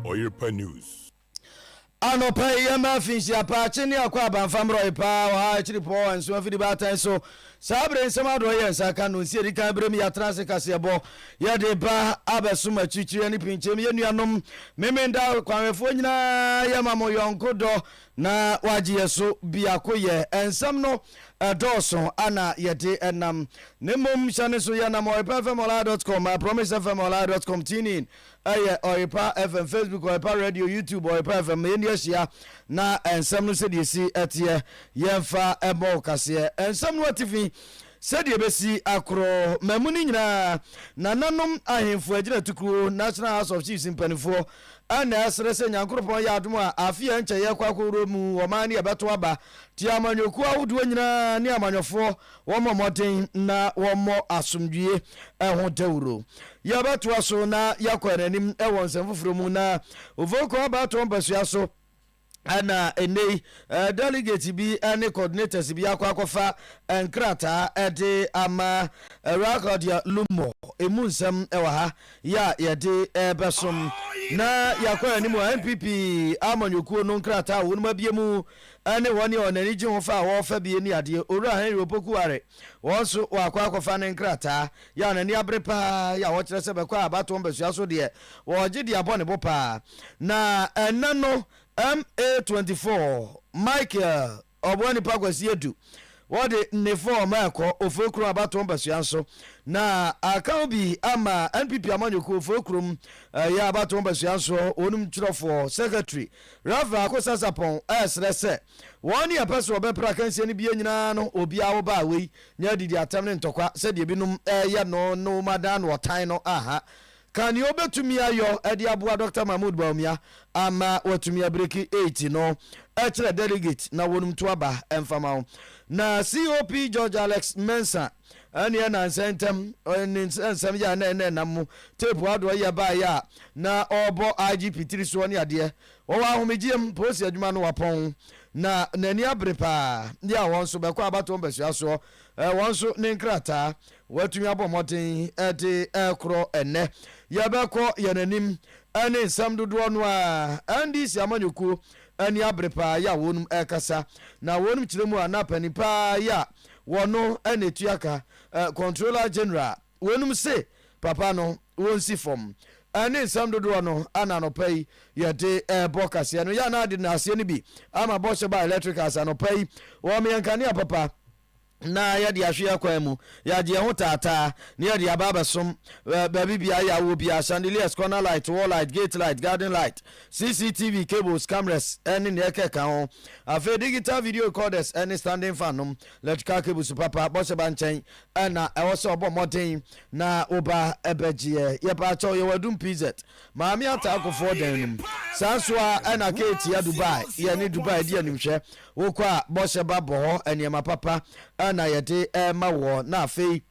Oyerepa News. Anɔpa yi yɛma afinhyia paa, kye ne akɔ abanfa mmrɔye paa, ɔha akyiri pɔɔ, nso afidi baatan so. Saa bere nsɛm adɔe yɛ nsa ka no nsi a edi kan bere mu yɛatena ase kaseɛbɔ, yɛde ba abɛsom akyirikyiri ne pinkyem. Yɛn nuanom Memenda kwanhwɛfoɔ nyinaa yɛma mo yɔnko dɔ na wɔagye yɛn so biakoyɛ. Nsɛm no dɔɔso a na yɛde nam, na mmom hyɛ no nso yɛnam Ɔyepɛ FM Online dot com, Promise FM Online dot com, TuneIn, Ɛyɛ Ɔyepa FM, Facebook Ɔyepa Radio, YouTube Ɔyepa FM. Ma yɛnni ahyia na nsɛm no sɛdeɛ ɛsi teɛ, yɛmfa mmɔ wo kaseɛ. Nsɛm no atifi, sɛdeɛ ɛbɛsi akorɔ, mmamu no nyinaa, nananom ahemfo agyinatukuo, National House of Chiefs mpanimfoɔ, ɛna ɛsrɛ sɛ Nyankoropɔn yɛ adom a afe a ɛnkyɛ yɛrekɔ akɔwura mu, ɔman no yɛbɛto aba, tie amanyɔkuo ahodoɔ nyinaa ne amanyɔfoɔ Wɔmmɔ mmɔden na wɔmmɔ asomdwoeɛ ho dawuro. Yɛbɛtoa so na yɛakɔ yɛn anim wɔ nsɛm foforɔ mu na Ovonkwa Abatoɔ mpasua so na ɛnnɛ yi delegate bi ne coordinators bi akɔ akɔfa nkrataa de ama Awurade Claudia Lummor. Ɛmu nsɛm wɔ ha yɛ a yɛde bɛsom na yɛakɔ yɛn anim wɔ NPP amanyɔkuo no nkrataa a wɔnom abie mu Ɛne wɔn nea wɔn ani gye ho fa a wɔrefa bi nni adeɛ. Owura Henry Opoku Are, wɔn nso wɔakɔ akɔfa ne nkrataa. Yɛ a n'ani abere pa ara yɛ a wɔkyerɛ sɛ bɛkɔ a abatoɔ mpasua so deɛ, wɔregye de abɔ ne bo pa ara. Na ɛnnɛ no, MA 24, Michael Ɔboanipa Kwasi Adu, wɔde ne fɔɔm rekɔ Oforokrom abatoɔ mpasua nso. Na akaw bi ama NPP amanyɔkuo Oforokrom yɛ abatoɔ mpasua nso, wɔn twerɛfoɔ, secretary, Reverend Ako Sasapong ɛresrɛ sɛ wɔn ne ɛpɛ sɛ wɔbɛpra akansie no bie nyinaa no obiara wo baa wei nyɛ adidi atɛm ne ntɔkwa sɛdeɛ binom ɛreyɛ no no wɔadan no ɔtan no aha ka nea ɔbɛtumi ayɔ ɛde aboa Doctor Mahmood Bawumia ama watumi abreki eiti no ɛkyerɛ delegate na wɔnom to aba ɛmfama wo na COP George Alex Mensah Ɛnneɛ na nsɛntɛm ne nsɛm yɛ a na ɛnɛ nam mu teepu adɔeɛ baeɛ a na ɔrebɔ IGP tiri soɔ ne adeɛ. Ɔwɔ ahomegyeɛ mu, polisi adwuma no wapɔn, na n'ani abere pa ara. Yea, wɔn nso bɛkɔ abatoɔ mpasua soɔ. Wɔn nso ne nkrataa wɔatumi abɔ mmɔden de rekorɔ ɛnnɛ. Yɛbɛkɔ yɛn anim ne nsɛm dodoɔ no ara. NDC amanyɔkuo ani abere pa ara yɛ a wɔnom rekasa, na wɔnom kyerɛ mu a na panin pa ara yɛ a wɔ no na etua ka, eh, Controller General, wonom se papa no wonsi fam. Ɛne nsɛm dodoɔ no ana anɔpa yi yɛde ɛɛbɔ kaseɛ no. Yɛ ana ade no aseɛ no bi ama bɔhyɛ ba electricals anɔpa yi. Wɔn yɛ nkanea papa na yɛde ahwe yɛ kwan mu, yɛagye yɛn ho taataa na yɛde aba abɛsom baabi biara yɛ awɔ biara, chandeliers, corner light, wall light, gate light, garden light, CCTV cables, cameras, ne nea ɛkeka ho. Afei digital video recorders ne standing fan nom, electrical cables papa, bɔhyɛba nkyɛn na ɛwɔ sɛ ɔbɔ mmɔden na wo ba bɛgyeɛ. Yɛpa kyɛw, yɛwɔ Adum PZ, Maame Atta Akofoɔ dan no mu. Saa nso ara na Kate a Dubai, yɛne Dubai di animhwɛ. Wokɔ a, bɔhyɛba bɔ hɔ, nneɛma papa na yɛde ma woɔ. Na afei.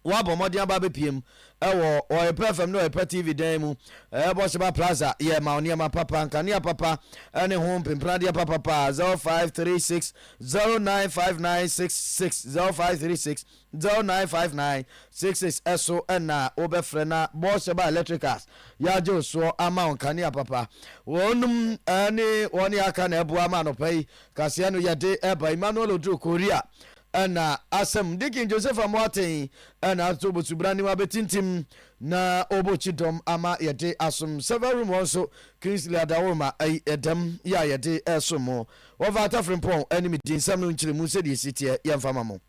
wɔabɔ mmɔden aba abɛpiem wɔ Ɔyɛpɛ FM ne Ɔyɛpɛ TV dan mu ɛbɔ Sheba Plaza yɛ ma nneɛma papa nkanea papa ne ho mpempenadeɛ papa pa 0536 095966 0536 095966 ɛso ɛna wobɛfrɛ na bɔ Sheba Electricals yɛagye wo soɔ ama wo nkanea papa wɔnom ne wɔne aka na ɛboa ma anɔpa yi kaseɛ no yɛde ɛba Emmanuel Oduro Korea Ɛna asɛm Deacon Joseph Amoateng ɛna ato obosubra ne wabetintim na ɔbɔ kyidɔm ama yɛde asom server room hɔ nso Kingsley Adaworoma ɛyi ɛdɛm yɛ a yɛde ɛsom mo wɔfa Ata Frimpong animdi nsɛm no nkyeremu sɛdeɛ ɛsi teɛ yɛmfa ma mo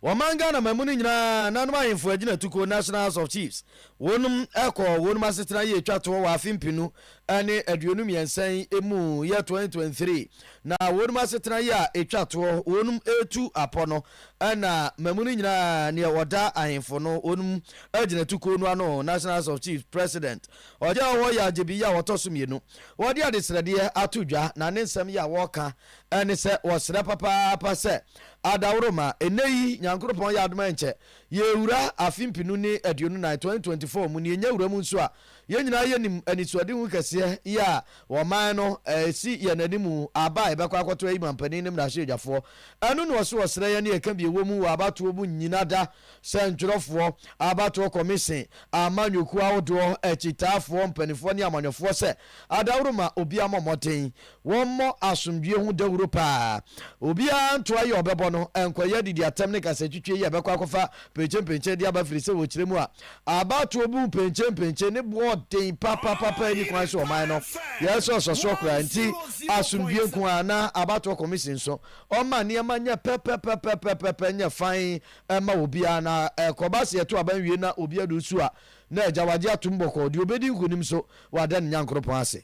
Wɔman Ghana mamu no nyinaa nanom ahemfo agyinatukuo National House of Chiefs wɔnom ɛkɔɔ wɔnom asetena yie twa toɔ wɔ afe mpenu ɛne aduonu mmiɛnsa yi mu yɛ twenty twenty three na wɔnum asetena yi a etwa toɔ wɔnum etu apɔ no ɛna mmamu no nyinaa nea ɔda ahemfo no wɔnum agyina tukuo no ano national house of chiefs president ɔgya ɔwɔ yɛ agyebi yi a wɔtɔ so mmienu wɔde adesrɛdeɛ ato dwa na ne nsɛm yi a wɔka ɛne sɛ wɔsrɛ papaapa sɛ adaworo ma ɛnɛ yi nyankoropɔn yɛ adoma nkyɛ yɛwura afe mpinu ne aduonu nan twenty twenty four mu ne yɛnya wura mu nso a Yɛn nyinaa yɛnim anisoadehu kɛseɛ yi a wɔman no ɛsi yɛn anim aba a yɛbɛkɔ akɔto ayi manpanin ne mmarahyɛbadwafoɔ. Ɛno na ɔse ɔsrɛ yɛn ne ɛka bi ɛwɔ mu wɔ abatoɔ mu nnyina da sɛ ntwerɛfoɔ, abatoɔ kɔmehyen, amanyɔkuo ahodoɔ, akyitaafoɔ, mpanifoɔ ne amanyɔfoɔ sɛ adaworo ma obiara mmɔ mmɔden Wɔmmɔ asomdwoeɛ ho dawuro paa. Obiara nto ayi a ɔbɛbɔ no, nkɔyɛ adidi atɛm ne kasatwitwi yi a ɛbɛkɔ akɔfa penkyenpenkyen de aba firisɛ wɔ kyerɛ mu a abatoɔ bu penkyenpenkyen ne boɔ ɔden papapapa ɛnni kwan sɛ ɔman no yɛ sɛ ɔsɔ soɔ koraa nti asomdwoeɛ nko ara na abatoɔ kɔmisen nso ɔmma nneɛma nyɛ pɛpɛpɛpɛpɛpɛ nyɛ fann ɛma obiara na ɛkɔba sɛ yɛto aba nwie na obiara de osu a na agya wagye atom bɔkɔɔ deɛ ɔbɛdi nkonim nso wada ne Nyankoropɔn ase.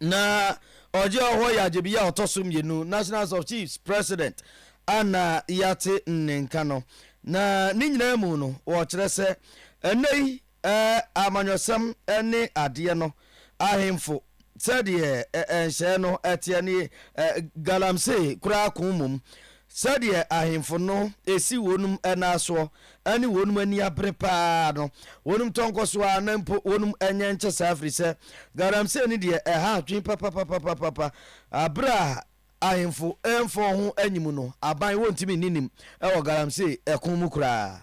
na ɔgye ɔhɔ yɛ agyebia a ɔtɔ so mmienu, National House of Chiefs President a na yɛate ne nka no. Na ne nyinaa mu no, wɔkyerɛ sɛ ɛnnɛ yi amanyɔsɛm ne adeɛ no ahemfo sɛdeɛ nhyɛɛ no teɛ ne galamsey koraa ko mmom. Sɛdeɛ ahemfo no si wɔnom nan asoɔ ne wɔnom ani abere pa ara no, wɔnom tɔ nkɔsoɔ ara na mpo wɔnom nyɛ nkyɛ saa firi sɛ galamsey no deɛ ɛha adwene papapapapapa. Berɛ a ahemfo mfa wɔn ho anyi mu no, aban wɔntumi nni nim wɔ galamsey ko mu koraa.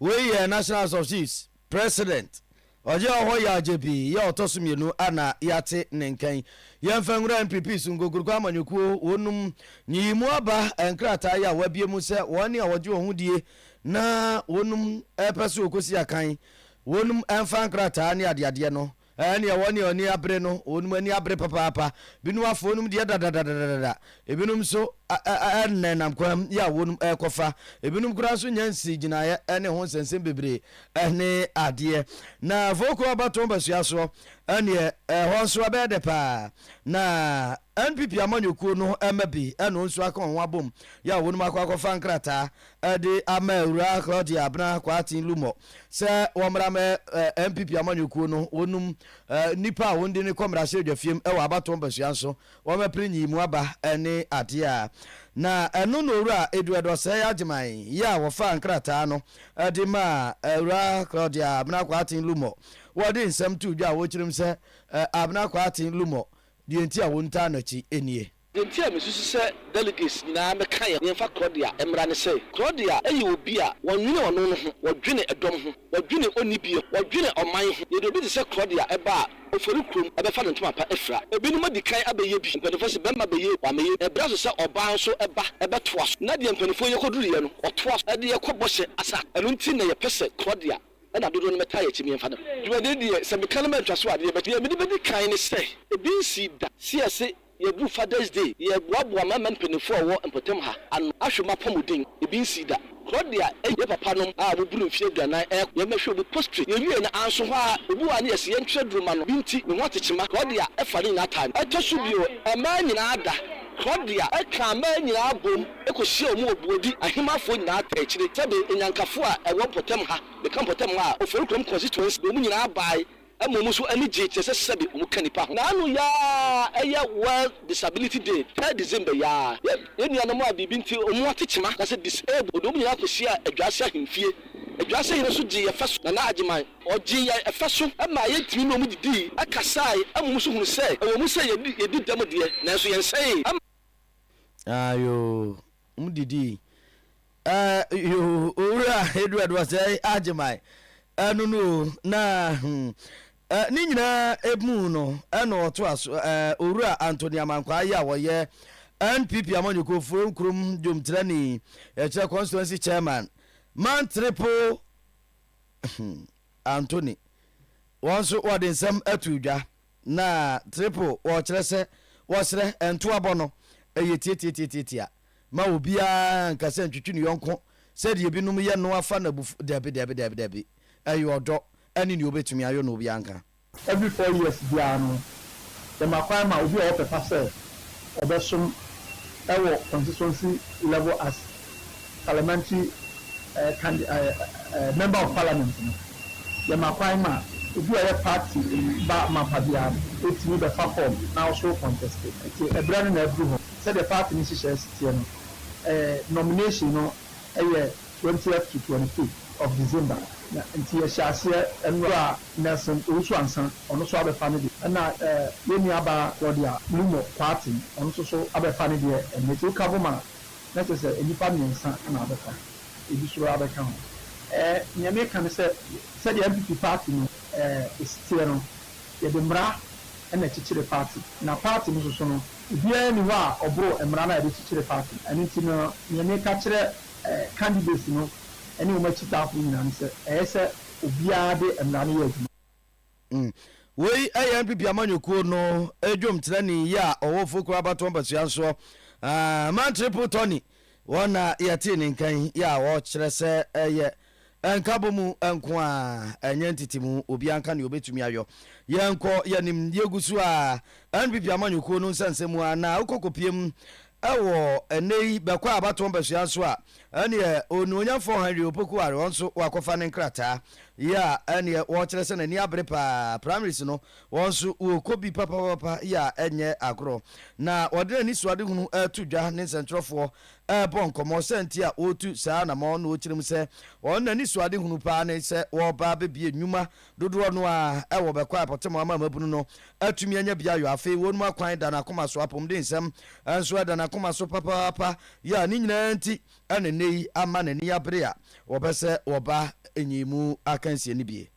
Wei yɛ National House of Chiefs President Ɔgye Ɔhɔ Yaw Gyepyi yɛ ɔtɔ so mmienu a na yɛate ne nka yi. Yɛmfa nwura NPP so nkokuroko amanyɔkuo wɔnom nyiyimu aba nkrataa yi a wɔabie mu sɛ wɔne a wɔgye wɔn ho die na wɔnom pɛ sɛ wɔkɔsi akan wɔnom mfa nkrataa ne adeadeɛ no Ɛɛneɛ wɔn a ani abere no, wɔnom ani abere papaapa. Binom afa wɔnom deɛ dadadadadada. Ebinom nso nenam kwan mu a wɔnom rekɔfa. Ebinom koraa nso nnya nsii gyinaeɛ ne ho nsɛnsɛm bebree ɛne adeɛ. Na Voco Abatoɔ Basuasoɔ ɛneɛ ɛhɔ nso ɛbɛyɛ dɛ paa. Na NPP amanyɔkuo no mma bi ɛne wɔn nso aka wɔn ho abom a wɔnom akɔ akɔfa nkrataa de ama Awuraa Claudia Abena Kwarteng Lumor sɛ wɔmmra mɛ ɛ NPP amanyɔkuo no wɔnum ɛ nnipa a wɔndi no kɔ mmarahyɛbdwafiem wɔ abatoɔ mpasua nso wɔmmɛpere nyiyimu aba ne adeɛ a na ɛno na Owura Edu Ɛdɔsɛɛ Agyeman yɛ a wɔfaa nkrataa no de maa Awuraa Claudia Abena Kwarteng Lumor wɔde nsɛm too dwa a wɔkyerɛm sɛ ɛ Abena Kwarteng Lumor deɛ nti a wɔntaa no akyi nie. Nti a mesusu sɛ delegates nyinaa mmɛka yɛn ho. Yɛmfa Claudia mmra ne sɛ, Claudia yɛ obi a wɔnnwene ɔno no ho, wɔdwene ɛdɔm ho, wɔdwene onnibie ho, wɔdwene ɔman ho. Yɛde obi te sɛ Claudia ba a, ɔfɔri kurom, ɛbɛfa ne ntoma pa afira. Ebinom adi kan abɛyɛ bi. Mpanimfoɔ se barima bɛyɛ bi, wamɛyɛ bi. Ɛberɛ aso sɛ ɔbaa nso ba, ɛbɛtoa so. Na deɛ mpanimfoɔ yi kɔduruiɛ no, wɔtoa so de yɛn kɔ bɔhyɛ asa. Ɛno nti na yɛpɛ sɛ Claudia na dodoɔ no mmɛtaa yɛn akyi na yɛmfa ne ho. Dwumadie deɛ, sɛ meka no mantwa so a, deɛ mede bɛdi kan ne sɛ, ebi nsii da. Seɛ se Yɛadu Father's Day, yɛreboaboa mmarima mpanyimfo a wɔwɔ mpɔtam ha ano ahwɛ wɔn apɔmuden. Ebi nsii da. Claudia ne yɛn papanom a wɔboro mfe aduanan rekɔ no, yɛbɛhwɛ wɔn posture. Yewiei no, anso hɔ ara, obi wɔ ha na yɛse yɛntwerɛ duru mma no. Bi nti, ne ho ate kyema. Claudia fa ne nyinaa taa me. Ɛtɔ so bio, mmaa nyinaa da. Claudia kaa mmaa nyinaa boom kohyiaa wɔn wɔ Buodi Ahemafo nyinaa taa akyire sɛbe Anyankafo a ɛwɔ mpɔtam ha, meka mpɔtam ha a, Oforikrom constituency, wɔn nyinaa bae Mmom nso ani gyei te sɛ sɛbe wɔka nnipa ho. Naanu yi ara ɛyɛ World Disability Day, third December yi ara. Yɛn nuanom a biribi nti wɔn ho ate kyema, anaasɛ disabled, wɔde wɔn nyinaa kɔhyiaa Adwaase Ahemfie. Adwaase Hene nso gyee yɛn fɛ so, Nana Agyeman. Ɔgyee yɛn fɛ so maa yɛtumi ne wɔn didii, kasae, mmom nso hunuu sɛ ɛwom sɛ yɛadi dɛm deɛ, nanso yɛnsɛee. Aayoo, wɔdidii. Eh yoo owura Edward wɔsɛe agye my ɛno no o na hmm eh, ne nyinaa emu no ɛna ɔtoa so eh, owura Anthony Amankwaa yi a wɔyɛ NPP Amanyɔkuo Furom Kurom Dwomtirani ɛkyerɛ Constituency Chairman Man Triple hmm Anthony wɔn nso wɔde nsɛm ato dwa na Triple wɔkyerɛ sɛ wɔsrɛ ntoabɔ no ɛyɛ tiatiatiatiatia Mma obiara nnka sɛ ntwetwe ne yɔnko sɛdeɛ ebinom yɛ no afa no abufuo, dabi, dabi, dabi, dabi, ɛyɛ ɔdɔ ɛne nea obetumi ayɔ na obiara nka. Every four years biara no, yɛma kwan ma obi a ɔpɛ pa sɛ ɔbɛsom wɔ constituency level as Parliamentary candi eh, Member of Parliament no, yɛma kwan ma obi a ɔyɛ party ba mapa biara no, otumi bɛfa form na ɔso conteste. Nti ɛberɛ no na aduru hɔ. Sɛdeɛ party no nhyehyɛɛ si teɛ no, nomination no yɛ twentieth to twenty fifth of December, na nti yɛhyɛ aseɛ nnora a Nelson Owusu-Ansah ɔno nso abɛfa ne deɛ, ɛna yɛn nua baa Claudia Lumo Kwarteng ɔno nso so abɛfa ne deɛ ɛnnɛ, nti wo ka bom a na kyerɛ sɛ nnipa mmiɛnsa na abɛfa, ebi nso abɛka ho. Nea meka ne sɛ, sɛdeɛ NPP party no si teɛ no, yɛde mmara na ɛkyekyere party, na party no nso so no, Obiara nni hɔ a ɔboro mmara no a yɛde kyekyere party. Ɛno nti no, nea meka kyerɛ candidates no ne wɔn akyitaafo nyinaa ne sɛ, ɛyɛ sɛ obiara de mmara no yɛ adwuma. Wei yɛ NPP amanyɔkuo no dwomkyerɛni yi a ɔwɔ Ofokuo abatoɔ mpasua nsoɔ, Man Triple Tony, wɔn na yɛtee ne nka yi a ɔkyerɛ sɛ ɛyɛ Nkabɔ mu nko ara, ɛnyɛ ntetemu. Obiara nka nea obetumi ayɔ. Yɛnkɔ yɛn anim. Yegu so ara. NPP amanyɔkuo no nsɛnsɛm mu ara na wokɔ kɔpiem wɔ ɛnnɛ yi bɛkɔ abatoɔ mpasua nso a, ɛneɛ Onuonyamfoɔ Henry Opoku Are ɔno nso wakɔfa ne nkrataa. Yea, ɛneɛ wɔkyerɛ sɛ n'ani abere pa ara. Primaries no, ɔno nso ɔkɔ bi papapapa. Yea, ɛnyɛ agorɔ. Na ɔde n'anisoadehunu reto dwa ne nsɛntwerɛfoɔ rebɔ nkɔmmɔ sɛ nti a wɔretu saa anamɔn no ɔkyerɛ mu sɛ wɔn anisoadehunu paa ne sɛ wɔreba abɛbie nnwuma dodoɔ no ara ɛwɔ bɛkɔ a ɛpɔtem ama mmabunu no atumi anya biayɔ afei wɔnom akwan da n'akoma so apomdensɛm nso ɛda n'akoma so papaapa yɛ a ne nyinaa nti ɛna nnɛ yi ama n'ani abere a wɔbɛ sɛ wɔba nyimu akansie no bie.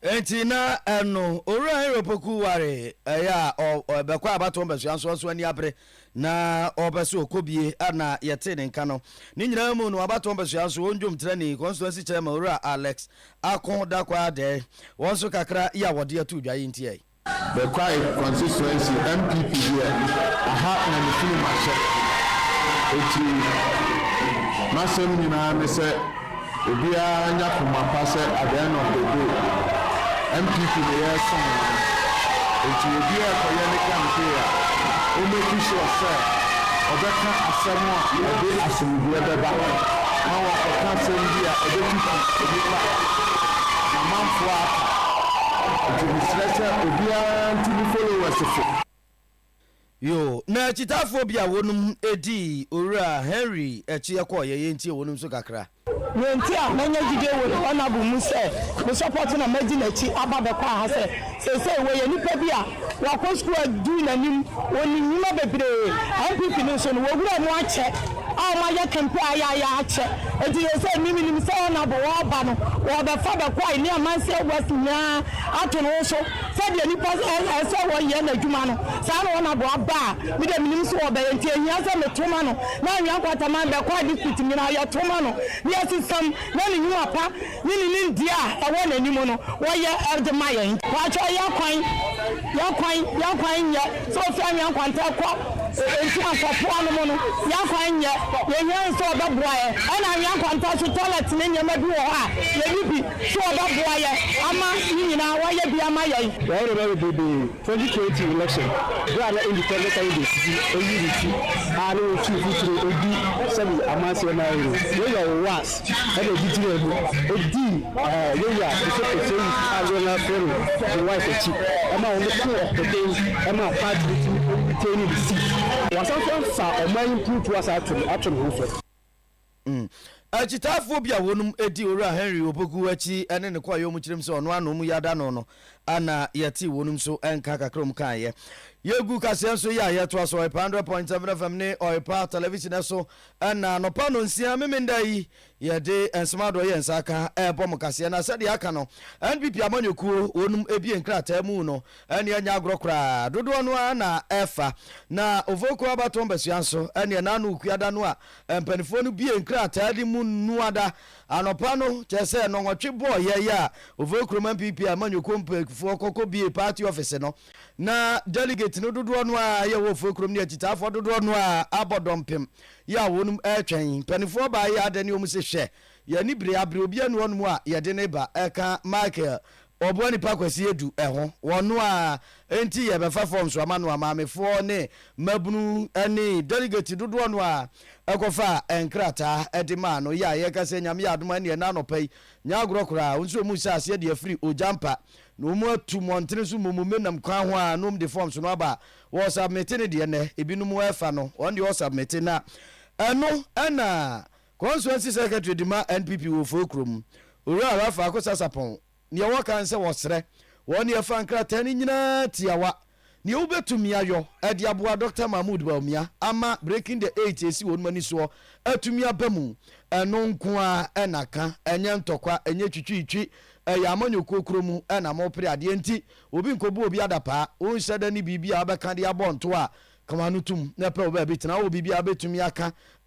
Enti na ɛno, Owura Heropoku waree. Ɛyɛ a ɔ, ɔbɛkɔ abatoɔ mbɛsoa nso ɔso ani abere, na ɔpɛ sɛ ɔkɔ bie. A na yɛtee ne nka no. Ne nyinaa mu no, abatoɔ mbɛsoa nso, wɔn dwom trɛnii, constituency chairman Owura Alex Ako Dakwaa Adɛɛ, wɔn nso kakra yi a wɔde ato dwa yi nti ɛɛ. The Kwai constituency NPP deɛ aha na me firi mahyɛ eti masɛm nyinaa ne sɛ obiara nya koma pa sɛ at the end of the day NPP na yɛresom no eti obiara ɛkɔyɛ ne campaign a o make sure sɛ ɔbɛka asɛm a ɛde asomdwoeɛ bɛba na wakɔka asɛm bi a ɛbɛtutu nnipa a namanfoɔ aka. Nti mesrɛ sɛ obiara ntu me followers fo. Yoo na akyitaafoɔ bi a wɔnom dii owura Henry akyi kɔeɛ yɛntie wɔnom nso kakra. Deɛ nti a manya gyidie wɔ the honourable mu sɛ me support na madi n'akyi aba bɛkɔ aha sɛ seesei wɔyɛ nipa bi a wakɔ sukuu adu n'anim wɔ ne nwuma bebree npp no nso no wɔwura mu akyɛ. a wɔayɛ kɛmpɛ a ayɛ a yɛakyɛ nti yɛ sɛ me menim sɛ Honourable wɔɔba no wɔɔbɛfa Bɛkwai ne Amanseɛ West nyinaa ato no so sɛdeɛ nipa ɛsɛ wɔyɛ n'adwuma no saa na Honourable aba a me deɛ menim so wɔbɛyɛ nti ɛhia sɛ me to ma no na Anhwea Nkwataman Bɛkwai district nyinaa yɛto ma no na yɛsesam na ne nwuma pa Ne ne nimdeɛ a ɛwɔ n'anim no wɔyɛ de ma yɛn. Pakyɛ yɛ kwan yɛ kwan yɛ kwan nyɛ sɛ ofi anwea nkwanta kɔ nsu ankwɔpoa no mu no yɛ kwan nyɛ yɛhia no sɛ ɔbɛboa yɛ ɛna anwea nkwanta so toilet ne nneɛma bi wɔ hɔ a yɛni bi so ɔbɛboa yɛ ama ne nyinaa wɔayɛ bi ama yɛn. Yɛwɔ nneɛma bebrebe 2020 election bere a na independent candidates bi ayi ne ti a na wɔatu mfuturo adi sɛde amanseɛ ma yɛn no, Yoweri Owuas na ɔde gyinaa mu dii Yoweri Kefefe Seyid a dodoɔ no ara frɛ no Joyce akyi ma wɔtoo ɔpɛden maa party no tumi retaining ne seat. Wasan nso afa ɔman yi mpuntuo asan ato ne ho so. Mm. Akyitaafoɔ bi a wɔnom di Owura Henry Opoku akyi ne ne kɔ a wɔnom kyerɛm sɛ ɔno ano mu yada no no na yɛtee wɔnom nso nka kakra wɔnom kaeɛ. Yɛgu kaseɛ nso yi a yɛtoa so Ɔypa 100.7 FM ne Ɔypa Television so na anɔpa nonsia Memendaa yi yɛde nsɛm adoɔ yɛ nsa aka ɛrebɔ mo kaseɛ na sɛdeɛ aka no NPP amanyɔkuo wɔnom ebie nkrataa mu no ɛne ɛnyɛ agorɔ koraa dodoɔ no ara na ɛfa na Ovokuo Abatɔn Basua nso ɛne ɛnaano Okuada no a Mpanimfoɔ no bue nkrataa de mu Nnuada anɔpa no, kyerɛ sɛ nnɔnwɔtwe bɔɔyɛ yi a Ovoe kurom NPP amanyɔkuo mpanyinfoɔ kɔ kɔ bue party office no, na delegate no dodoɔ no ara yɛ wɔ Ofoe kurom ne akyitaafoɔ dodoɔ no ara abɔ dɔmpem yi a wɔnom retwɛn mpanimfoɔ baa yi adɛ ne wɔn se hwɛ yɛn ani bere abere obiara nni hɔnom a yɛde no reba, ɛka Michael Wɔboa nnipa kwasiyɛ du ho. Wɔno ara nti yɛbɛfa forms ama no a maamefoɔ ne mmabunu ne delegates dodoɔ no ara kɔfaa nkrataa de maa no. Yea, yɛka sɛ Nyame yɛ adom a ɛneɛ ɛnnɛ anɔpa yi, nyɛ agorɔ koraa, wɔn nso wɔn mu saa aseɛ de afiri ogya mpa na wɔn atu mmɔntene so mmom menam kwan ho ara na wɔn de forms no aba a wɔ submite no deɛ nnɛ ebinom ɛfa no wɔn deɛ wɔ submite na ɛno na Consuency Secretary de ma NPP wɔ Ofori kurom, Owura Rapha Akosa Sarpong, nea wɔka nsɛ wɔsrɛ wɔn nea ɛfa nkrataa no nyinaa tiawa, nea wobetumi ayɔ de aboa Doctor Mahmood Bawumia ama Breaking the Eight a esi wɔn ani soɔ atumi aba mu, ɛno nko ara na ka, ɛnyɛ ntɔkwa, ɛnyɛ twitwiitwi, ɛyɛ amanyɔkuo korɔ mu na mopere adeɛ nti, obi nkɔbu obi adapaa, wonhyɛ da ne biribi a wobɛka de abɔ ntoa a, ka w'ano tom na pɛ wo baabi tena, wowɔ biribi a wobetumi aka,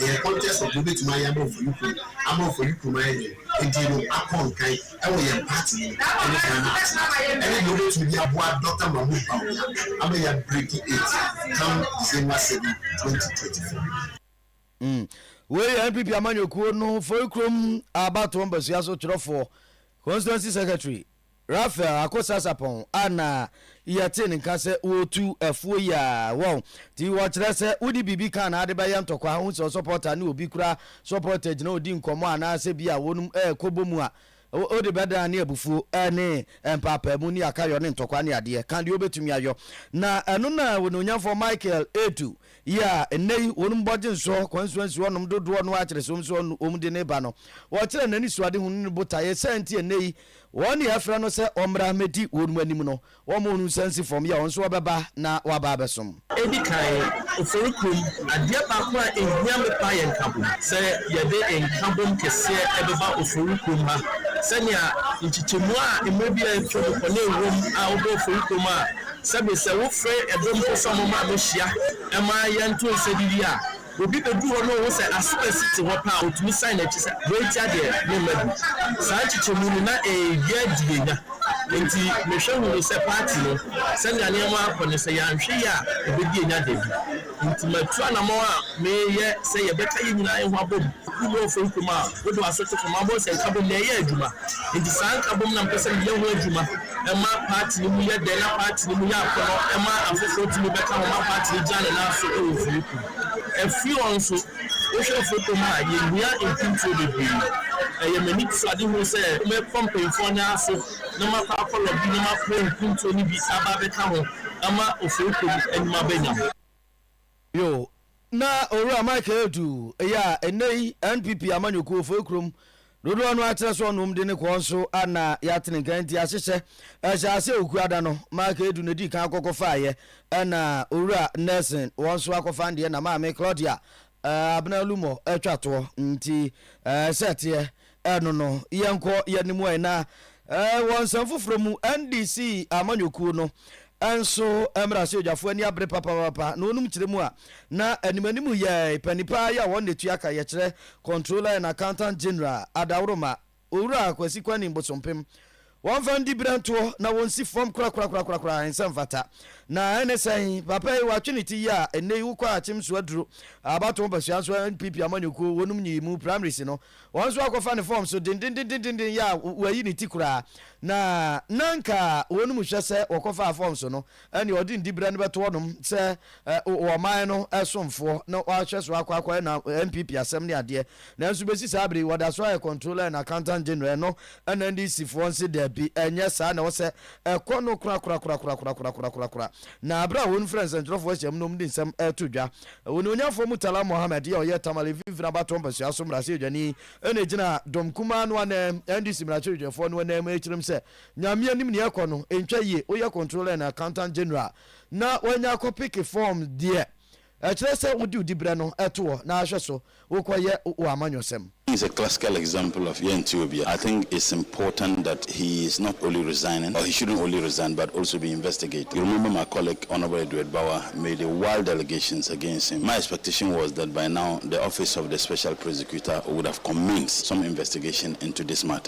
Ɛyɛ contest of wobɛtumi ayɛ ama Ofori kurom ama Ofori kurom ayɛ den nti no akɔ nkan ɛwɔ yɛn party no mu ɛne Ghana atena ase ɛne deɛ wobɛtumi de aboa Doctor Mahmood Bawumia ama yɛ breaki it come December seven, twenty twenty four. Wei yɛ NPP amanyɔkuo no Ofori kurom abatoɔ mbasua so twerɛfoɔ, Constituency Secretary, Raphael Akosasapong a na yɛtee ne nka sɛ ɔretu afuo yi a, wɔn ti wɔkyerɛ sɛ wode biribi ka anaa de bɛyɛ ntɔkwa, wohu sɛ ɔsɔpɔta ne obi kura sɔpɔta gyina ɔredi nkɔmmɔ anaa sɛ bi a wɔn rekɔbɔ mu a, wode bɛdan ne abufuo ne mpaapaamu ne akayɔ ne ntɔkwa ne adeɛ, ka deɛ ɔbɛtumi ayɔ. Na ɛno na Onuonyamfoɔ Michael retu yi a nnɛ yi wɔn bɔgye nsoɔ kwansuo nsi hɔnom dodoɔ no ara kyerɛ sɛ wɔn nso wɔn de no reba no. Wɔkyerɛ n'anisoadehunu ne ne botaeɛ, sɛn nti a nnɛ yi Wɔn nea afrɛ no sɛ ɔmmra mmɛdi wɔn anim no, wɔmmoo no nsa nsi fam, yɛ ɔno nso ɔbɛba na waba abɛsom. Edi kan, ofori kum adeɛ baako a ehia me paa yɛ nkabom. Sɛ yɛde nkabom kɛseɛ ɛbɛba ofori kum ha, sɛnea nkyekyɛmu a mmerɛ bi a atwam kɔ na ɛwom a wobɔ ofori kum a, sɛbe sɛ wofrɛ ɛdɔm mpo sɛ wɔmmra mmɛhyia mma yɛnto nsa didi a, Obi bɛduru hɔ na ɔhu sɛ Asuba si te hɔ paa a, ɔtumi san n'akyi sɛ, Wei tia deɛ, memma bi. Saa nkyekyɛmu no, na ɛyɛ yea di yɛnya. Enti mehwɛ hunu sɛ paati no, sɛnea nneɛma akɔ no, sɛ yɛanhwɛ yie a, ɛbɛdi yɛnya da bi. Enti matu anammɔn a mereyɛ sɛ yɛbɛka yɛn nyinaa yɛn ho abom. Wo ne ɔfam kumaa a wode w'aso to fam abɔ nsa nkabom na ɛyɛ adwuma. Enti saa nkabom na mepɛ sɛ meyɛ ho adwuma. ɛma paati no mu yɛ dɛ na paati no mu yɛ akɔnnɔ ɛma afoforɔ tumi bɛka ho ma paati no gyina ne nan so wɔ afiri kuo afiri hɔ nso wohwɛ afiri kuo mu a yɛhia mpuntuo bebree ɛyɛ m'anitosoadehunu sɛ mɛkɔ mpanyinfoɔ nan ase na makɔ akɔ lɔbi na mafoɔ mpuntuo no bi aba abɛka ho ama afiri kuo no anim abɛnya Bio, na Owura Michael Edu yɛ a nnɛyi NPP amanyɔkuo foɔ kurom dodoɔ no ara kyerɛ sɛ ɔnom de ne kɔɔ nso anna yɛatene nka nti ahyehyɛ ɛhyɛɛ aseɛ Okuada no Michael Edu na ɛdii kan akɔkɔfaeɛ ɛna Owura Nelson wɔn nso akɔfa deɛ na Maame Claudia Abena Lumor atwa toɔ nti ɛɛ sɛ ɛteɛ Ɛno no, yɛnkɔ yɛn anim ɛ na eh, wɔ nsɛm foforɔ mu, NDC amanyɔkuo no nso mmarahyɛbadwafoɔ ani abere papaapa na wɔnom kyerɛ mu a na anim anim yɛ panin paa yi a wɔn na ɛtua ka yɛ kyerɛ Controller and Accountant General Adaworoma Owura Kwasi Kwaning Bosompem Wɔmfa ndi berɛntoɔ na wɔnsi fam korakorakorakora ɛnsɛ mfata. Na ɛne sɛn? Papa yi watwe ne ti yie a ɛnnɛ yi wokɔ akyem so aduro abatoɔ mpasua nso NPP amanyɔkuo wɔnom nyiyimu primaries no wɔn nso akɔfa ne fam so dendendendenden yɛ a wayi ne ti koraa na na nka wɔnom hwɛ sɛ wɔkɔfaa fam so no ɛnneɛ ɔde ndiberɛ no bɛto hɔnom sɛ ɔman no somfoɔ na wahwɛ so akɔ akɔyɛ na NPP asɛm ne adeɛ. Nanso bɛsi saa berɛ yi wɔda so ayɛ Controller and Accountant General ɛno na NDC foɔ nse daabi ɛnyɛ saa na ɛwɔ sɛ ɛkɔ no korakorakorakorakorakorakorakorakorakora. Na berɛ a wɔn frɛ nsɛntwerɛfoɔ ahyiam no wɔn de nsɛm reto dwa. Onimuonyafoɔ Murtala Mohammed yɛ ɔyɛ Tamale mfinfini abatoɔ mpasua so mmarahyɛbadwani na ɛgyina Dɔm Kumaa no ananmu, NDC mmarahyɛbadwafoɔ no ananmu rekyerɛ mu sɛ Nyame anim nea ɛkɔ no ntwa yie, woyɛ controller and accountant general na woanya akɔ peke form deɛ, ɛkyerɛ sɛ wode wo diberɛ no to hɔ na ahwɛ so wokɔyɛ wo amanyɔsɛm. He is a classical example of yɛnte obia. I think it's important that he is not only resigning or he shouldn't only resign but also be investigated. You remember my colleague Honourable Edward Bawa made a wild allegations against him. My expectation was that by now the office of the special prosecutor would have commenced some investigation into this matter.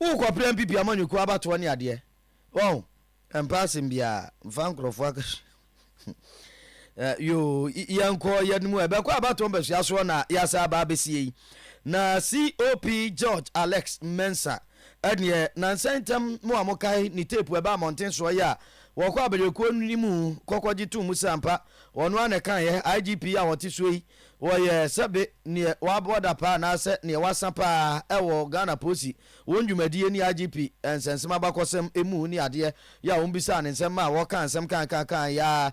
Wo kɔ pra mpipi amanyɔkuo abatoɔ ne adeɛ wahu ɛmpɛ asɛm biaa mfa nkorɔfoɔ akatua eh, yoo yɛnkɔ yɛn mu ɛbɛkɔ abatoɔ mpɛsua soɔ na yɛasa aba abɛsie yi na COP George Alex Mensah ɛneɛ nansɛ ntɛm mo a mokae ne tape ɛbɛ amɔnten soɔ yɛ a wɔkɔ abanyɔkuo no mu kɔkɔgye too mu sɛ ampa wɔno a na ɛkaeɛ IGP a wɔte soɔ yi Wɔyɛ sɛbe neɛ waboa da paa anaasɛ neɛ wasa paa ɛwɔ Ghana Posi wɔn dwumadie ne IGP nsɛnsɛm abakɔsɛm ɛmu ne adeɛ yɛ a wɔn bisaa ne nsɛm maa wɔkaa nsɛm kaakaakaae yɛ a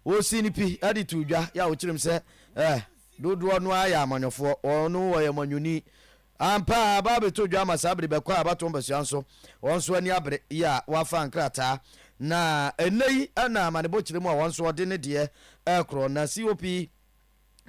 wɔsii ne pi de too dwa yɛ a wɔkyerɛm sɛ eh dodoɔ no ara yɛ amanyɔfoɔ wɔn no wɔyɛ manyɔni ampa a aba abɛtɔ dwa ama saa bere bɛkɔ a abatoɔ mpasua nso wɔn nso ani abere yɛ a wɔafa nkrataa na ɛnnɛ yi na amanebɔ kyerɛ mu a wɔn nso wɔde ne deɛ ɛkorɔ na COP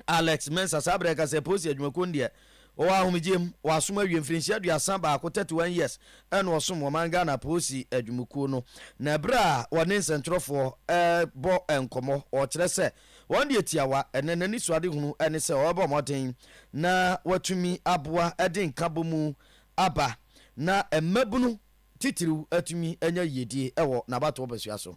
Alex Mensah saa berɛ ka sɛ Posi adwumakuo no deɛ wɔwɔ ahomegyeɛ mu, wɔasom awie mfirinhyia aduasa baako, 31 years, na wɔsom wɔ man Ghana Posi adwumakuo no. Na berɛ a wɔne nsɛntwerɛfoɔ rebɔ nkɔmmɔ, wɔkyerɛ sɛ wɔn deɛ tiawa ɛnɛ n'anisoadehunu ne sɛ wɔbɛbɔ mmɔden na wɔatumi aboa de nkabɔmu aba na mmabunu titiriw atumi anya yiedie wɔ n'abatoɔ mpasua so.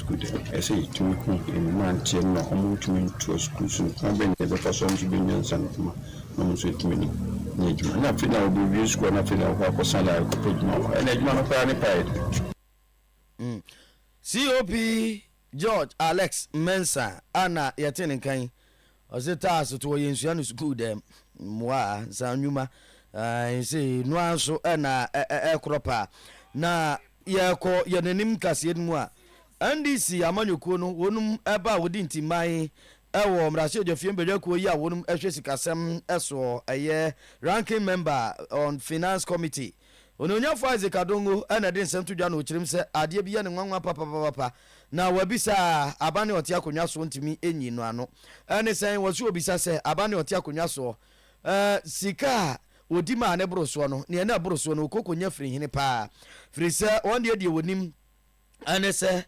sukuu de, ɛsɛ sɛ yetumi hu mmeranteɛ no na wɔntumi ntoa sukuu so no, kwan bɛn na yɛbɛfa so a wɔn nso bɛnya nsaanohoma na wɔn nso atumi anya adwuma, na afei na wɔbɛwie sukuu a na afei na wɔkɔ akɔsan de akɔpɛ adwuma wɔ hɔ, ɛnna adwuma no koraa ne paa yɛ den. COP George Alex Mensah a na yɛte ne nka yi Ɔse taa so tse hɔ yensua no sukuu dɛm mboa a nsa nwuma ae sei no ara so na ɛkorɔ paa na yɛkɔ yɛn anim nkaseɛ no mu a NDC amanyɔkuo no wɔnom ɛba a wɔdi ntiman ɛwɔ mmarahyɛbadwafie mbadwakuo yi a wɔnom ɛhwɛ sikasɛm ɛsoɔ ɛyɛ ranking member on finance committee Onuonyamfo Isaac Adongo na ɛde nsɛm to dwa na ɔkyerɛm sɛ adeɛ bi yɛ no nwanwa papapapapa na wɔabisa a aba ne ɔte akonnwa soɔ ntumi nyi no ano. Ɛne sɛn? Wɔso ɔbisa sɛ aba ne ɔte akonnwa soɔ eh, sika a ɔdi ma a ne boro soɔ no, neɛ na ɛboro soɔ no ɔkɔ kɔnya firi hene paa? Firi sɛ wɔn deɛ deɛ wɔnim. Ɛne sɛ,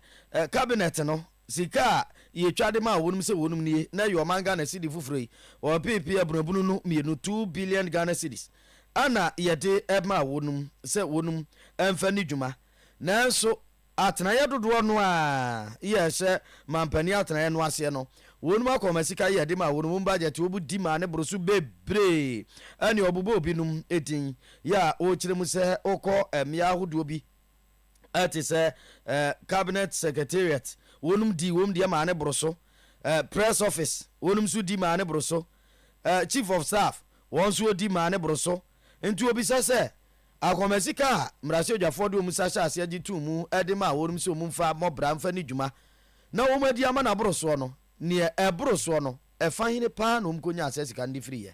Cabinet no, sika a yɛtwa de maa wɔnom sɛ wɔnom nie, na ɛyɛ ɔman Ghana cedi foforɔ yi, ɔpeepe abunabunu no mmienu, two billion Ghana cedis, ɛna yɛde maa wɔnom sɛ wɔnom mfa nni dwuma. Nanso atenaeɛ dodoɔ no a yɛhyɛ manpanin atenaeɛ no aseɛ no, wɔnom akɔma sika a yɛde maa wɔnom budget a wɔbu di maa no boro so bebree. Ɛne ɔbobɔɔ binom din, yɛ a wɔkyerɛ mu sɛ wokɔ mmea ahodoɔ bi, a te sɛ eh, Cabinet Secretariat, wɔnom di wɔn deɛ maa no boro so, eh, Press Office, wɔnom nso di maa no boro so, eh, Chief of Staff, wɔn nso wɔdi maa no boro so. Nti wɔbisa sɛ, Akɔma sika a mmarahyɛbdwafoɔ de wɔn nsa hyɛ aseɛ gye too mu de maa wɔnom sɛ wɔn mfa mmɔ bra mfa nni dwuma na wɔn adi ama no aboro soɔ no, deɛ ɛboro soɔ no, ɛfa hene paa na wɔn kɔnyaa saa sika no de firiiɛ?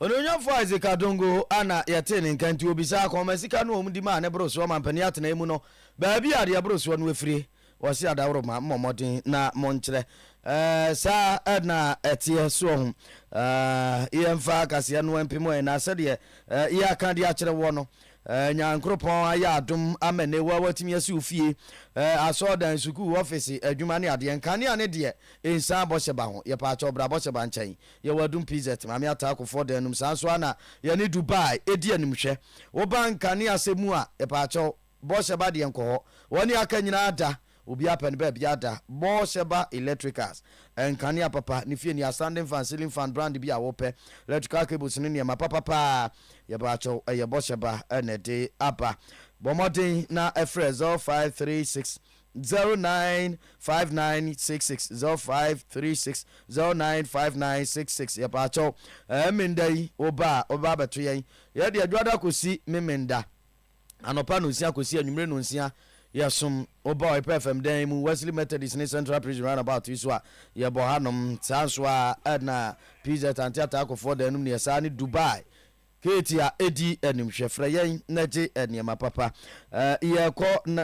Onuonyamfo Isaac Adongo a na yɛtee ne nka nti obisaa kwan ma sika no a wɔde maa ne borosoɔ mampanin atenae mu no baabi a deɛ borosoɔ no afire. Wɔse adaworoma mmɔ mmɔden na monkyerɛ. Ɛɛ saa na ɛteɛ soɔ ho. Ɛɛ yɛmfa akaseɛ no mpem wɔn na sɛdeɛ yɛaka de akyerɛ woɔ no ɛɛ Nyankoropɔn ayɛ adom ama nnɛ wo a watumi asi wo fie, ɛɛ asɔɔdan, sukuu, ɔfese, adwuma ne adeɛ. Nkanea ne deɛ nsan bɔhyɛ ba ho. Yɛpaakyɛw bra bɔhyɛ ba nkyɛn. Yɛwɔ adum PZ, Maame Ataa Akufoɔ dan no mu. Saa nso ara na yɛne Dubai di animhwɛ. Woba nkanea sɛ mu a, yɛpaakyɛw, Bɔhyɛba deɛ nkɔ hɔ. Wɔne aka nyinaa da. Obiara pɛ ne baabi ada. Bɔhyɛba Electricals, nkanea papa, ne fie nea, standing fan, ceiling fan, brand bi a wopɛ, electrical cables ne nneɛma papa pa ara, yɛpaakyɛw, ɛyɛ Bɔhyɛba na ɛde aba. Bɔ mmɔden na frɛ 0536 Zero nine five nine six six zero five three six zero nine five nine six six yɛpaakyɛw ɛɛ menda yi wo ba a ɔbɛba abɛto yɛn yɛ deɛ dwoada kɔsi me menda anɔpa nonsia kɔsi anwummere nonsia yɛsom wo ba ɔyɛ pɛ fam dan mu Wesley Methodist ne Central Prison roundabout yi so a yɛbɔ hanom saa nso a ɛna PZ ante ataakofoɔ dan no mu ne yɛ saa ne Dubai Hate a edi anim hwɛ frɛ yɛn na gye nneɛma papa eh, yɛkɔ na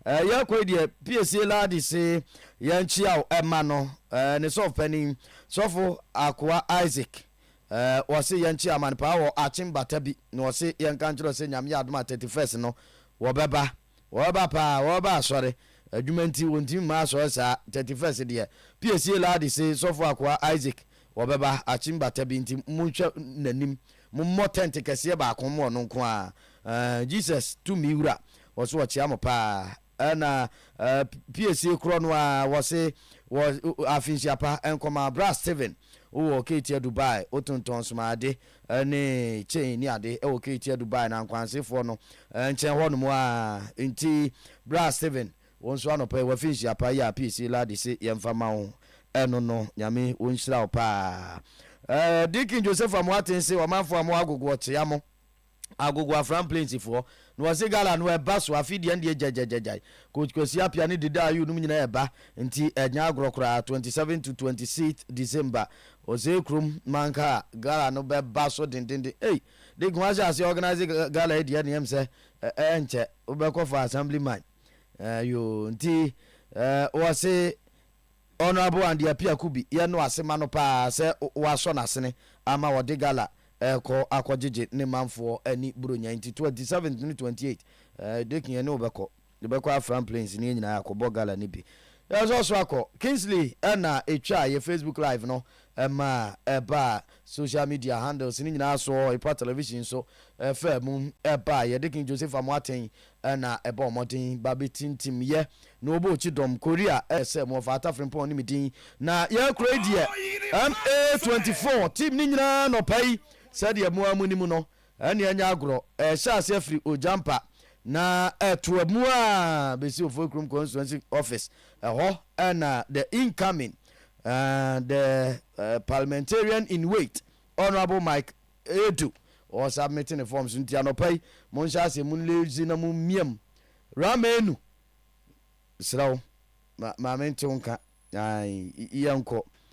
eh, yɛkɔ yi deɛ piesie laadi se yɛn kyia o ɛma no eh, ne sɔfo panin sɔfo akoa Isaac eh, wɔse yɛn kyia ma no paa wɔ akyen bata bi na wɔse yɛn ka nkyerɛ sɛ nyame yɛ adom a 31st no wɔbɛba Wɔba paa, wɔba asɔre. Adwuma nti, wɔntumi mma asɔre saa. Thirty first deɛ, PAC lady se Sɔfo Akoah Isaac wɔbɛba, Achimba Tabi, nti monhwɛ n'anim. Mommɔ tent kɛseɛ baako mma ɔno nko ara. Eh, Jesus tumi wura, wɔse wɔkyea mo paa. Ɛna eh, PAC korɔ no ara, wɔse wɔ afinhyia pa, nkɔmaa bra Steven, wowɔ Ketia Dubai, wotontɔn smaade, ne chain ne ade wɔ Keeti adu bae no ankwansefoɔ no nkyɛn hɔnom ara nti bra Steven wo nso anɔpa yi wafi nhyia pa yi a piisi ladi se yɛmfa mma wo ɛno no Nyame ɔnhyira wo paa Deacon Joseph Amoaten se ɔmanfoɔ a mo agogo ɔkyea mo agogo Afram Plains foɔ Na wɔse gala no ɛba so afei deɛ ɛndeɛ gyagyagyagyai coach Kwasi Appiah ne Dede Ayew nom nyinaa ɛba nti ɛnyɛ agorɔ koraa 27 to 26th December wɔ Zee kurom manka a gala no bɛba so dendenden ei Dick ho ahyɛ aseɛ organise gala yi deɛ ɛndeɛ ɛm sɛ ɛnkyɛ wobɛkɔ for assembly man ɛɛ yoo nti ɛɛ wɔse Honourable Andy Apiaku bi yɛ no ase ma no paa sɛ wasɔ n'asene ama ɔde gala rekɔ akɔgyegye ne manfoɔ ani Buronya nti 27th ne 28th Dake yɛne wo bɛkɔ yɛbɛkɔ Afram Plains ne yɛn nyinaa akɔbɔ gala no bi Yɛ sɔ so akɔ Kingsley na ɛtwaa yɛ Facebook live no ma ɛbaa social media handles no nyinaa so Epa Television nso faa mu baeɛ Dake Joseph Amoateng na ɛbɔɔ mmɔden ba bɛtintim yɛ na wɔbɔɔ kyidɔm Korea yɛ sɛ mo wɔfa Ata Frimpong ne me din na yɛn kuro yi deɛ MA24 team no nyinaa anɔpa yi sɛdeɛ mo ara mo nim no ɛne ɛnyɛ agorɔ ɛhyɛ aseɛ firi Ogyampa na ɛto amu a bɛsi Ofoikurom constituency office ɛhɔ na the incoming uh, the uh, parliamentarian in wait Honourable Mike Ɛyɛ to wɔn sa mete ne fɔm so nti anɔpa yi monhyɛ aseɛ mo leaves na mo miam ra menu serɛ wo ma ma mente wo nka ae yɛnkɔ